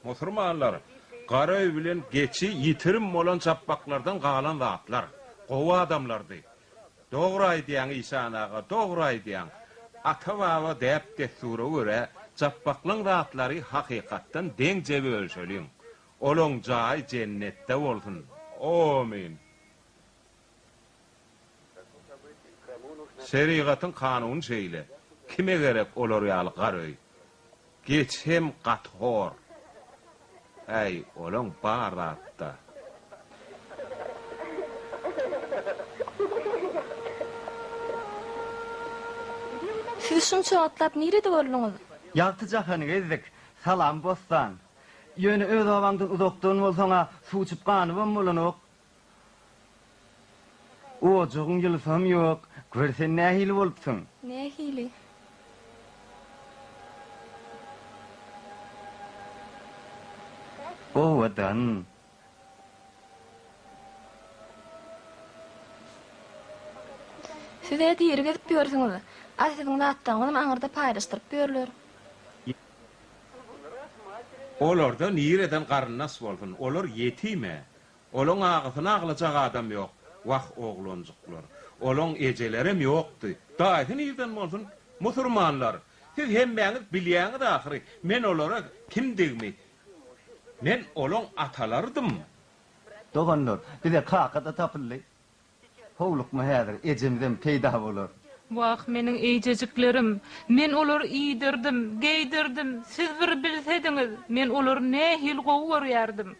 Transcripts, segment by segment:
Musurmanlar, Gara öý bilen geçi ýitirim bolan japbaklardan galan zatlar. Gowy adamlardy. Dogry aýdýaň işan aga, dogry aýdýaň. Ata baba däp dessura görä japbaklyň zatlary hakykatdan deňje bölüşeliň. Olaň jaýy jennetde bolsun. Omyn. Şerigatyň kanuny şeýle. Kime gerek olar ýaly gar öý? Geç hem gaty hor. Äý, olaň bar zatda. Siz şunça wagtlap nirede bolduňyz? Ýagty jahany gezdik. Salam, bossan. Ýöne öz obaňdan uzakdan bolsaň-a, suw içip ganybam bolanok. Ojagyň ýylysam ýok. Gör sen nähili bolupsyň. Nähili? Owadan. Siz-ä diri gezip ýörsüňiz. A siziň zatlaryňyzam aňyrda paýlaşdyryp ýörler. Olarda nireden garyndaş bolsun. Olar ýetim-ä. Olaň agysyny aglajak adam ýok. Wah, oglanjyklar! Olaň ejelerem ýokdy. Daýysy nirden bolsun? Musurmanlar! Siz hemmäňiz bilýäňiz ahyry, men olara kimdigimi. Men olaň atalarydym. Doganlar, bize kaka-da tapyldy. Howlukma häzir ejemizem peýda bolar. Wah, meniň eýjejiklerim! Men olary iýdirdim, geýdirdim, siz bir bilsediňiz, men olary nähili gowy görýärdim.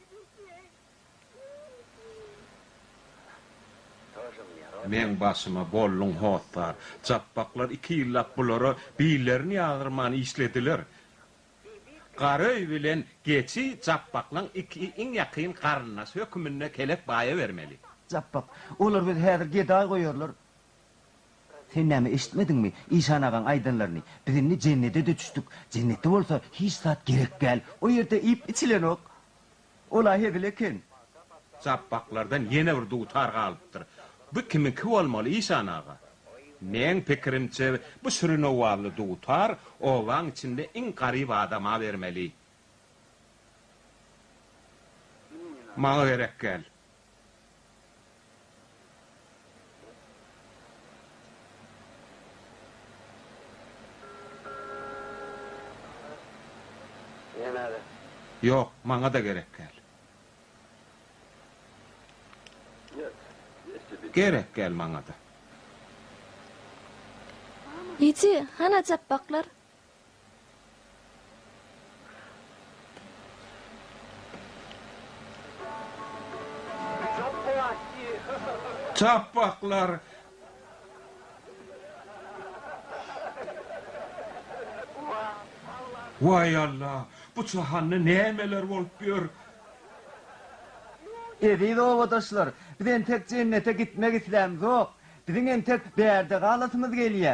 Meň başyma bolduň hossar. Japbaklar iki ýyllap bulara billerini ýazdyrman işlediler. Garöý bilen Geçi Japbaklaň iki iň ýakyn garyndaşy höküminde kelek baýa bermeli. Japbak, Olar bizi häzir gedaý goýarlar. Sen näme eşitmediňmi işan agaň aýdanlaryny? Biz indi jennede-de düşdük. Jennetde bolsa hiç zat gerek däl. O ýerde iýip-içilenok. Ol-a hezil eken. Japbaklardan ýene bir dutar galypdyr. Bu kimiňki bolmaly, işan aga? Meň pikirimçe, bu şirin owazly dutar obaň içinde iň garyp adama bermeli. Maňa gerek däl. Ýok, maňa-da gerek gel. Gerek gel maňa-da. Ýiti, hana japbaklar? Çapbaklar. Waý Alla, bu çahanda nämeler bolup ýör? Eziz obadaşlar, biz entek jennete gitmek islämzok. Biziň entek bärde galasymyz gelýä.